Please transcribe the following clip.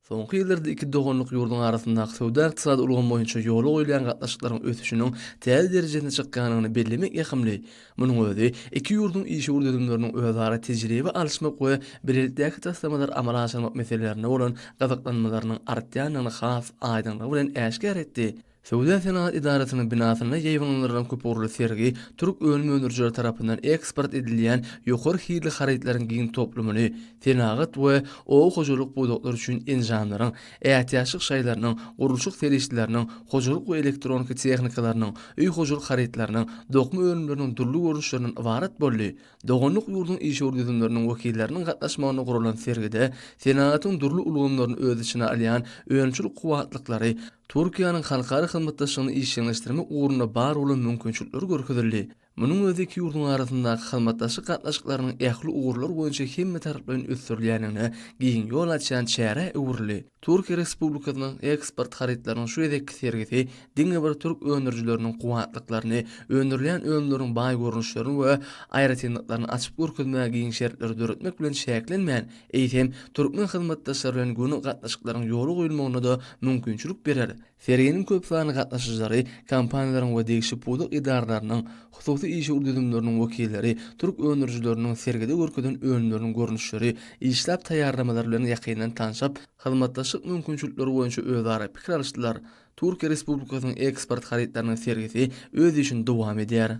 Soňky ýyllarda iki doganlyk ýurduň arasyndaky söwda-ykdysady ulgam boýunça ýola goýulýan gatnaşyklaryň ösüşiniň täze derejesine çykýandygyny bellemek ýakymly. Munuň özi iki ýurduň işewür düzümleriniň özara tejribe alyşmak we bilelikdäki taslamalary amala aşyrmak meselelerine bolan gyzyklanmalarynyň artýandygyny has aýdyňlygy bilen äşgär etdi. Söwda-senagat edarasynyň binasynda ýaýbaňlandyrylan köpugurly sergi türk önüm öndürijileri tarapyndan eksport edilýän ýokary hilli harytlaryň giň toplumyny, senagat we oba hojalyk pudaklary üçin enjamlaryň, ätiýaçlyk şaýlarynyň, gurluşyk serişdeleriniň, hojalyk we elektronika tehnikalarynyň, öý hojalyk harytlarynyň, dokma önümleriniň dürli görnüşlerinden ybarat boldy. Doganlyk ýurduň işewür düzümleriniň wekilleriniň gatnaşmagynda guralan sergide senagatyň dürli ulgamlaryny öz içine alýan önümçilik kuwwatlyklary, Türkiýäniň halkara hyzmatdaşlygyny işjeňleşdirmek ugrunda bar bolan mümkinçilikleri görkezildi. Munuň özi iki ýurduň arasyndaky hyzmatdaşlyk gatnaşyklarynyň ähli ugurlar boýunça hemmetaraplaýyn ösdürilýändigine giň ýol açýan çärä öwrüldi. Türkiýe Respublikasynyň eksport harytlarynyň şu gezekki sergisi diňe bir türk öndürijileriniň kuwwatlyklaryny, öndürilýän önümleriň baý görnüşlerini we aýratynlyklaryny açyp görkezmäge giň şertleri döretmek bilen çäklenmän, eýsem, türkmen hyzmatdaşlary bilen göni gatnaşyklaryň ýola goýulmagyna-da mümkinçilik berer. Serginiň köp sanly gatnaşyjylary, kompaniýalaryň we degişli pudak edaralarynyň, hususy işewür düzümleriniň wekilleri türk öndürijileriniň sergide görkezen önümleriniň görnüşleri, işläp taýýarlamalary bilen ýakyndan tanşyp, hyzmatdaşlyk mümkinçilikleri boýunça özara pikir alyşdylar. Türkiýe Respublikasynyň eksport harytlarynyň sergisi öz işini dowam edýär.